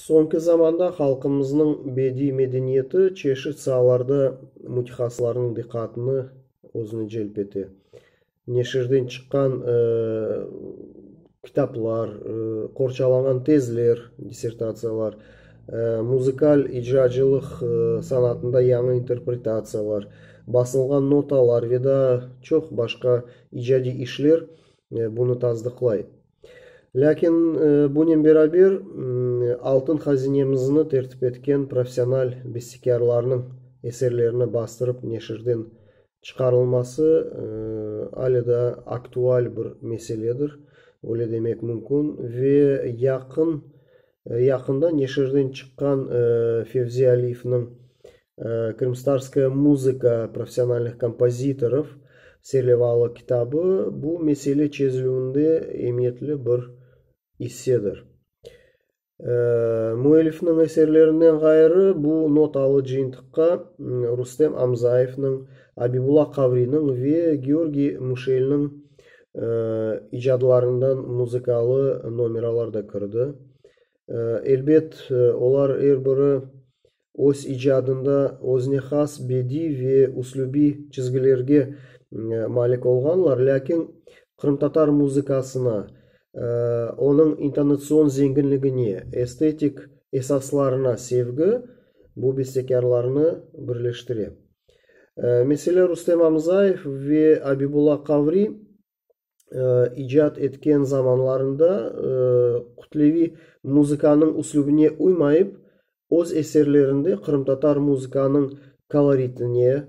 Soñki zamanda halqımıznıñ bediy medeniyeti çeşit saalarda mütehasıslarnıñ diqqatını özüne celp ete. Neşirden çıqqan kitaplar, qorçalanğan tezler, dissertatsiyalar, muzıkal icracılıq sanatında yañı interpretatsiyalar, basılğan notalar ve daa çoq başqa icadiy işler bunı tasdıqlay. Lâkin bunen beraber, altın hazinemizni tertip etken professional bestekârlarnıñ eserlerini bastırıp neşirden çıqarılması ale daa aktual bir meseledir, öyle demek mümkün, ve yaqın Yaqında neşirden çıqqan Fevzi Aliyevniñ Krımstarskaya muzıka professionalnih kompozitorov serlevalı kitabı bu mesele çezilüvinde emiyetli bir issedir. Müellifniñ eserlerinden ğayrı, bu not alı cıyıntıqqa Rustem Amzayevniñ, Abibula Qavriniñ ve Georgiy Muşelniñ icadlarından muzıkalı nomeralar da kirdi. Elbet, olar er biri öz icadında öznehas bediy ve üslübiy çizgilerge malik olğanlar, lâkin qırımtatar muzıkasına, onıñ intonatsion zenginligine, estetik esaslarına sevgi bu bestekârlarnı birleştire. Mesele Rustem Amzayev ve Abibula Qavri icat etken zamanlarında kütleviy muzıkanıñ üslübine uymayıp, öz eserlerinde qırımtatar muzıkanıñ koloritine,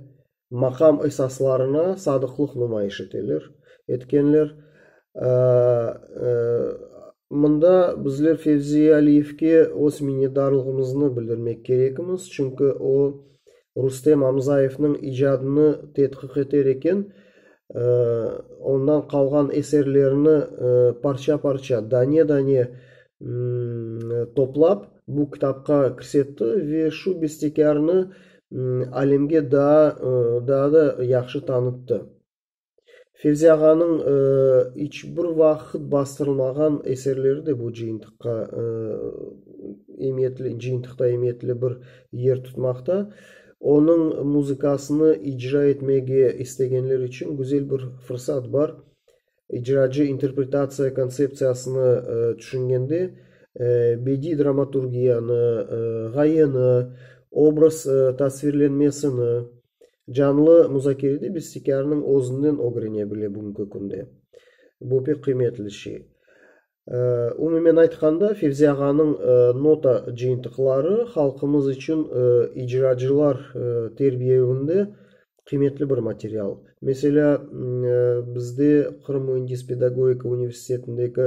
maqam esaslarına sadıqlıq numayış eteler, etkenler. Mında bizler Fevzi Aliyevge öz minnetdarlığımıznı bildirmek kerekmiz, çünki o, Rustem Amzayevniñ icadını tedqiq eter eken, ondan qalğan eserlerini parça-parça, dane-dane toplap, bu kitapqa kirsetti ve şu bestekârnı alemge daa da yahşı tanıttı. Fevzi ağanıñ iç bir vaqıt bastırılmağan eserleri de bu cıyıntıqqa emiyetli, cıyıntıqta emiyetli bir yer tutmaqta. Onıñ muzıkasını icra etmege istegenler içün güzel bir fırsat bar. İcracı interpretatsiya kontseptsiyasını tüşüngende, bediy dramaturgiyanı, ğayeni, obraz tasvirlenmesini, Canlı muzakerede bestekârnıñ özünden ögrene bile bugünki künde. Bu pek qıymetli şey. Umumen aytqanda, Fevzi ağanıñ nota cıyıntıqları halqımız içün icracılar terbiyevinde qıymetli bir material. Meselâ, bizde Qırım müendis pedagogika universitetindeki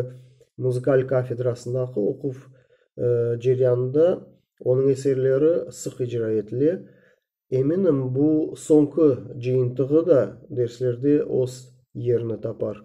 muzıkal kafedrasındaki oquv ceryanında onıñ eserleri sıq icra etile. Eminim, bu soñki cıyıntığı da derslerde öz yerini tapar.